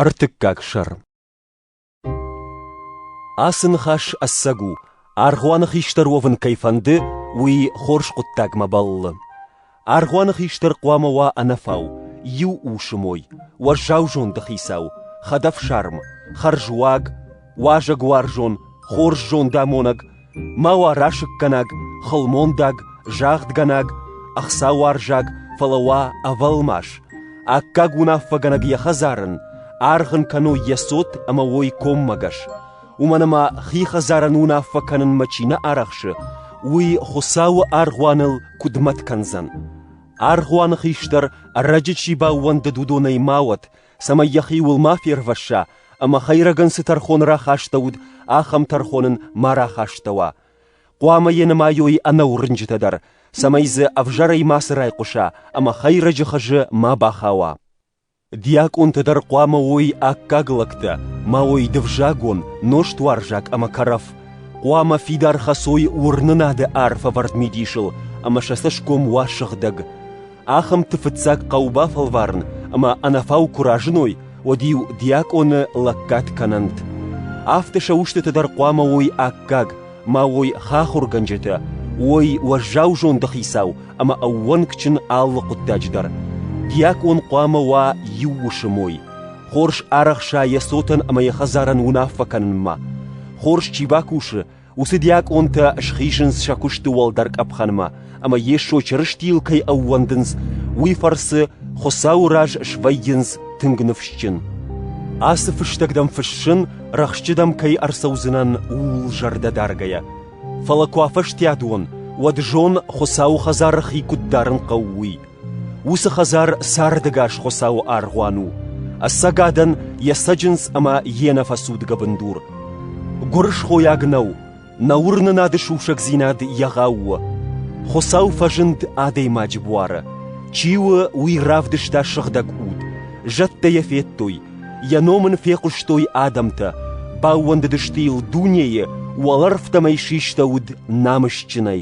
Ӕртыккаг сӕр Ацы ныхас ӕцӕг у, аргъуаны хистӕр уӕвын кӕй фӕнды, уый хорз хъуыддагмӕ бӕллы. Аргъуаны хистӕр хъуамӕ уа ӕнӕфау, иу усы мой, уӕззау зонды хицау, хӕдӕфсарм, хӕрзуаг, уазӕгуарзон, хорз зондамонӕг, ма уа расыггӕнаг, хылмондаг, загъдгӕнаг, ӕхцауарзаг, фӕлӕ уа ӕвӕлмас, аккаг уынаффӕгӕнӕг йӕ хӕдзарын, аргъ ын кӕной йӕ цот ӕмӕ уой коммӕгӕс. Уымӕн ӕмӕ хи хӕдзарӕн уынаффӕ кӕнынмӕ чи нӕ арӕхсы, уый Хуыцауы аргъуаныл куыд мӕт кӕндзӕн? Аргъуаны хистӕр ӕрӕджы чи баууӕндыд, уыдонӕй ма уӕд, цӕмӕй йӕхиуыл ма фервӕсса ӕмӕ хӕйрӕгӕн цы тӕрхон рахастӕуыд, ахӕм тӕрхон ын ма рахастӕуа. Хъуамӕ йӕ нымайой ӕнӕуырнджытӕ дӕр, цӕмӕй дзы ӕвзӕрӕй мацы райхъуыса ӕмӕ хӕйрӕджы хызы ма бахауа. Диакъонтӕ дӕр хъуамӕ уой аккаг лӕгтӕ, ма уой дывзагон, нозтуарзаг ӕмӕ кӕрӕф, хъуамӕ фидар хӕцой уырнынады арф ӕвӕрд мидисыл ӕмӕ сӕ цӕсгом уа сыгъдӕг. Ахӕмты фыццаг хъӕу бафӕлварын ӕмӕ ӕнӕфау куы разыной, уӕд-иу диакъоны лӕггад кӕнӕнт. Афтӕ сӕ устыты дӕр хъуамӕ уой аккаг, ма уой хахуыргӕнджытӕ, уой уӕззау зондыхицау ӕмӕ ӕууӕнкджын алы хъуыддаджы дӕр. Диакъон хъуамӕ уа иу усы мой. Хорз арӕхса йӕ цотӕн ӕмӕ йӕ хӕдзарӕн уынаффӕ кӕнынмӕ. Хорз чи бакусы, Уыцы диакъонтӕ схизынц сӕ куысты уӕлдӕр къӕпхӕнмӕ, ӕмӕ Йесо Чырыстийыл кӕй ӕууӕндынц, уый фӕрцы Хуыцауы раз свӕййынц тынг ныфсджын. Ацы фыстӕг дӕм фыссын, рӕхсджыдӕм кӕй ӕрцӕудзынӕн, ууыл зӕрдӕ даргӕйӕ. Фӕлӕ куы афӕстиат уон, уӕд зон, Хуыцауы хӕдзары хи куыд дарын хъӕуы, уый. Уыцы хӕдзар сӕрдыгас Хуыцауы аргъуан у, ӕцӕгадӕн йӕ цӕджындз ӕмӕ йе нӕфӕцудгӕ бындур. Гуырысхойаг нӕу, нӕ уырнынады сусӕгдзинад егъау у. Хуыцау фӕзынд адӕймаджы буары. Чи у, уый равдыста сыгъдӕг уд, зӕдтӕ йӕ федтой, йӕ ном ын фехъуыстой адӕмтӕ, баууӕндыдысты йыл дунейы, уӕлӕрвтӕм ӕй систӕуыд намысджынӕй.